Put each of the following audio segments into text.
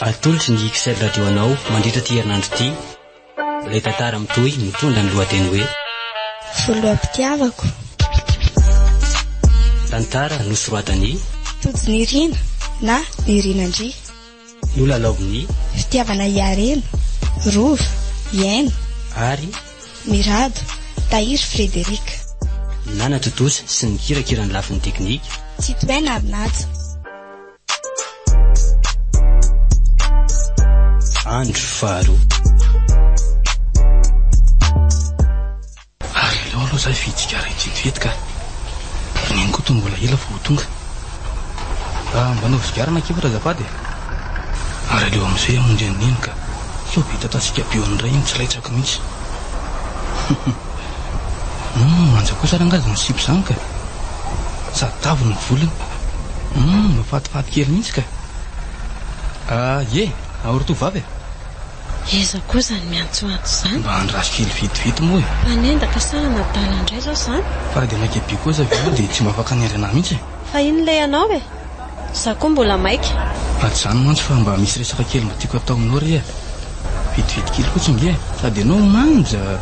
Atolotry ny XL Radio anao mandritra ity herinandro ity ilay tantara mitohy mitondra ny lohateny hoe Voloam-pitiavako. Tantara nosoratan'i Tojo Nirina na Nirina Ndry. Nolalaovin'i Fitiavana i Harena, Rova, Iaino. Ary. Mirado, Tahiry Frederic. Nana Totosa sy ny kirakira ny lafiny teknika. Tsitohaina Arnaja. Andro faharoa. Ary aleo aloha zah hividy sigara kidikidy ka. Ry neny koa toa mbola ela vao ho tonga. Raha mba hanaovy sigara na kivatra azafady e. Ary aleo amin'izay hamonjy an'i neny ka. Sao be tatatsika be eo amin'ny ray iny tsy laitsako mihitsy. Humm manja kosa rangah izany sipa izany ka. Sady tavy ny volony. Humm mafatifaty kely mihitsy ka. Ah ye, ahory to vava e? Iza koa izany miantsoantso izany? Mba andraso kely vetivety moa e. Mpanendaka sa anadala indray izao izany? Fa raha dia maika be kosa ve ianao dia tsy mba afaka hanendry anah mihitsy e. Fa inona ilay anao e? Za koa mbola maika. Ady zany mantsy fa mba misy resaka kely mba tiako atao aminao re eh. Vetivety kely fotsiny nge eh. Sady ianao manja ah.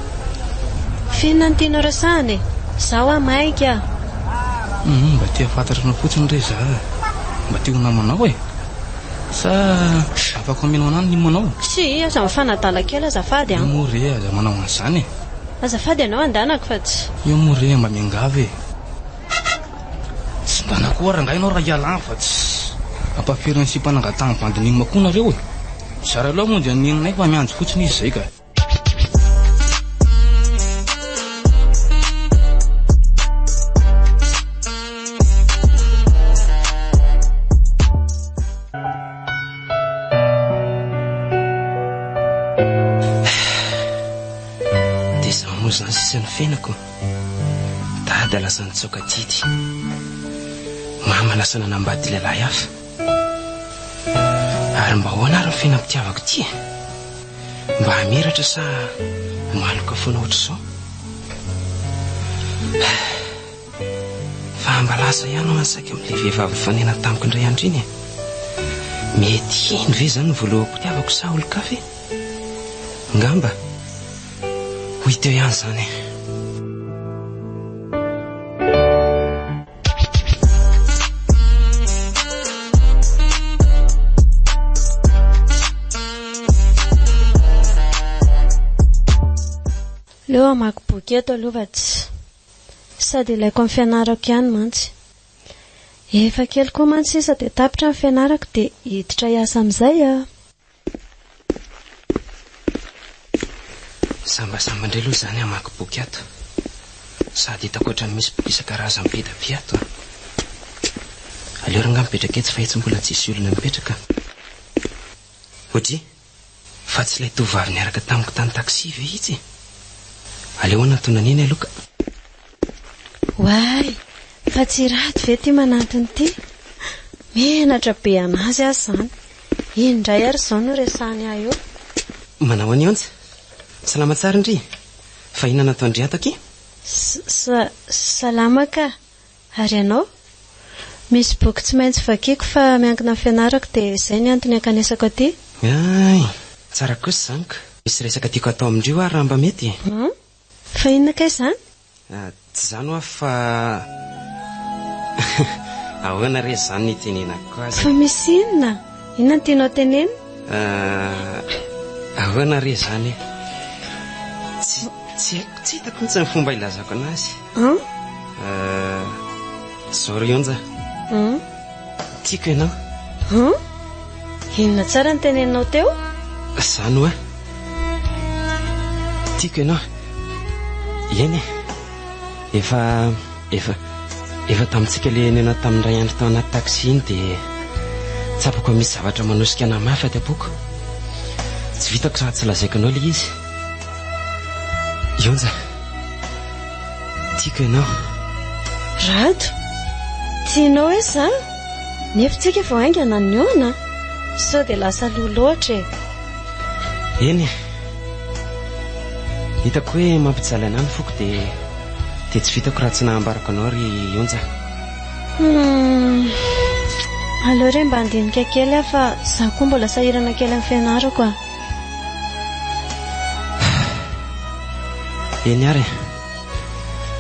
F'inona no tianao resahana e? Za hoa maika ah. Humm mba te hafantatra anao fotsiny re za ah. Mba te ho namanao eh. Sa afaka omenao anah ny nimo anao? Si i aza mifanadala kely azafady an. Io moa re aza manao an'izany eh. Azafady ianao andanako fa tsy. Io moa re mba miangavy eh. Tsy mba nakoa rangahy ianao raha hiala any fa tsy ampahaferon'ny sipa nangatahany bandy nino akoa nareo e! Zara loha moa dia ny nininay fa miandry fotsiny izy izay ka! Dia izany moa izany sisa ny fiainako. Dada lasa nitsaoka didy. Mama lasa nanambady lehilahy hafa. Ary mba ahoana ary ny fiainam-pitiavako ity e? Mba hamiratra sa maloka foana hoatr'izao? Fa mba lasa ihany hono saika amin'ilay vehivavy nifanena tamiko indray andro iny e. Mety hino ve izany ny voaloham-pitiavako sa olon-kafa e? Ngamba. Hoy teo ihany izany e. Aleo hamaky boky eto aloha fa tsy. Sady ilaiko amin'ny fianarako ihany mantsy. Efa kely koa mantsy sisa dia tapitra ny fianarako dia hiditra hiasa amin'izay aho. Sambasamba indray aloha izany hamaky boky ato. Sady hitako ohatran'ny misy boky isan-karazany be dia be ato an! Aleo r'angaha mipetraka etsy fa etsy mbola tsisy olona mipetraka an! Oji! Fa tsy ilay tovovavy niaraka tamiko tany taxi ve itsy e? Aleo hanatona an'iny aloha ka! Oay, fa tsy rado ve ity manantona ity? Menatra be an'azy aza izany. Iny indray ary izao no resahany ahy eo. Manao an'i Anja. Salama tsara ndry. Fa inona no ataon-dry ato akia? Sa, salama ka. Ary ianao? Misy boky tsy maintsy vakiako fa miankina amin'ny fianarako dia izay ny antony ankanesako aty. Hay, tsara kosa izany ka. Misy resaka tiako hatao amin-dry hoa raha mba mety e. Hum? Fa inona kay izany? Tsy izany hoa fa ahoana re izany ny itenenako azy? Fa misy inona? Inona no tianao tenenina? Ahoana re izany e? Tsy haiko, tsy hitako mihitsy ny fomba hilazako an'azy. An? Sorry onja. Tiako ianao. Huh? Inona tsara ny teneninao teo? Izany hoa. Tiako ianao. Eny e. Efa, efa, efa tamintsika ilay nihaona tamin'ny iray andro tao anaty taxi iny dia tsapako fa misy zavatra manosika anà mafy aty am-poko. Tsy vitako raha tsy lazaiko anao ilay izy. Ionja. Tiako ianao. Rado, tianao hoe za? Nefa tsy haiko vao haingana ny hoana? Sao dia lasa aloha loatra e! Eny e! Hitako hoe mampijaly anà ny foko dia dia tsy vitako raha tsy nahambarako anao ry Onja. Hum, aleo re mba handinika kely aho fa za koa mbola sahirana kely amin'ny fianarako a! Eny ary e.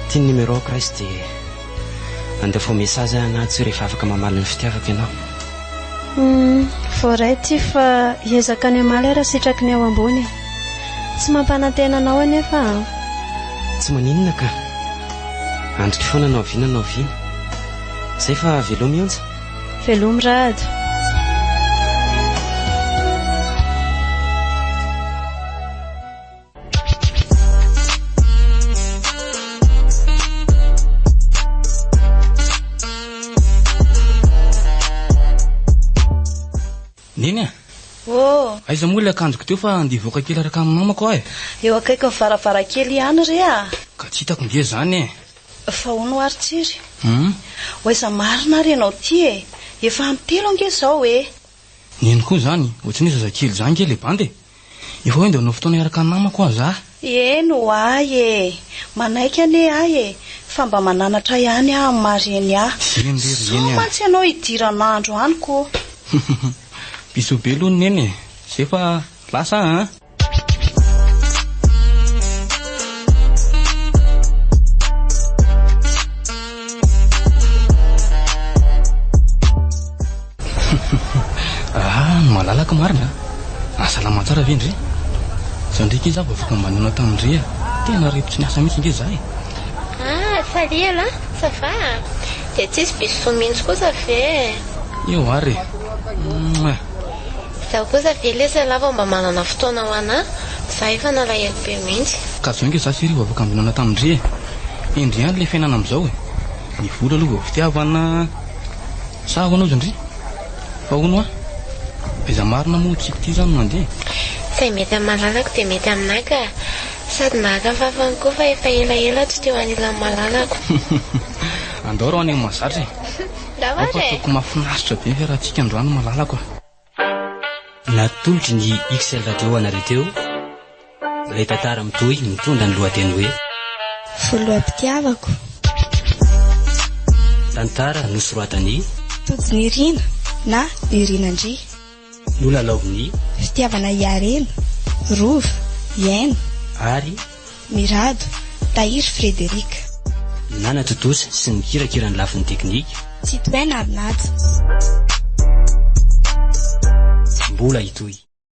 Ity ny numéro-ko Rais dia andefaho message ahy na tsy rehefa afaka mamaly ny fitiavako ianao. Humm, voaray ity fa hiezaka ny hamaly ary hasitraky ny ao ambony e. Tsy mampanantena anao anefa aho. Tsy maninona ka. Andriko foana na oviana na oviana. Izay fa velomy Onja. Velomy Rado. Neny a! Oh! Aiza moa ilay akanjoko teo fa andeha hivoaka kely araka ny namako aho e! Eo akaikin'ny varavarankely ihany re a! Ka tsy hitako nge izany e! Fa hono ho'a ry Tsiry? Hum? Ho'aiza marina ary ianao ity e? Efa ampy telo ange izao e! Nino koa izany, ohatry ny hoe zazakely izany nge ilay bandy e! Efa hoe andeha hanao fotoana hiaraka namako ho'a za. Eny ho'ahy e! Manaiky anie aho e! Fa mba mananatra ihany aho amin'ny maha reny ahy. Eny re ry Sao Neny a! mantsy ianao hidiran'andro any ko! Hum hum hum! Bisous be aloha ny Neny e! Zay fa lasa aho an! Malalaka marina a! Ah, salama tsara ve ndry? Zao ndray kay za vao avoaka mba nihaona tamin ndry a! Tena rivotry ny asa mihitsy nge za e! Ah, salut aloha! Ça va? Dia tsisy bisous mihitsy kosa ve e! Eo ary e! Mouah! Izaho kosa ve lesy ialahy vao mba manana fotoana ho anà? Izaho efa nalahelo be mihitsy. Ka zao ingahy za sy Rivo afaka ambonana tamin-dry e! Hendry ihany ilay fiainana amin'izao e! Ny vola aloha vao fitiavana sa ahoana ozy ndry? Fa hono hoa, aiza marina moa tsy kitia izany no mandeha? Izay mety amin'ny malalako dia mety aminà ka! Sady nahaka fafany koa fa efa elaela aho tsy teo anilan'ny malalako. Andao raha ho any amin'ny mahazatra e! Ampahako mafinaritra be ny fiarahantsika androany malalako a. Natolotry ny XL Radio ho anareo teo ilay tantara mitohy mitondra ny lohateny hoe. Voloam-pitiavako. Tantara nosoratan'i. Tojo Nirina na Nirina Ndry. no lalaovin'ny. Fitiavana Iareno, Rova, Iaino. Ary. Mirado, Tahiry Frederic. Nanatontosa sy nikirakira ny lafiny teknika. Tsitohaina Arnaja. Mbola hitohy.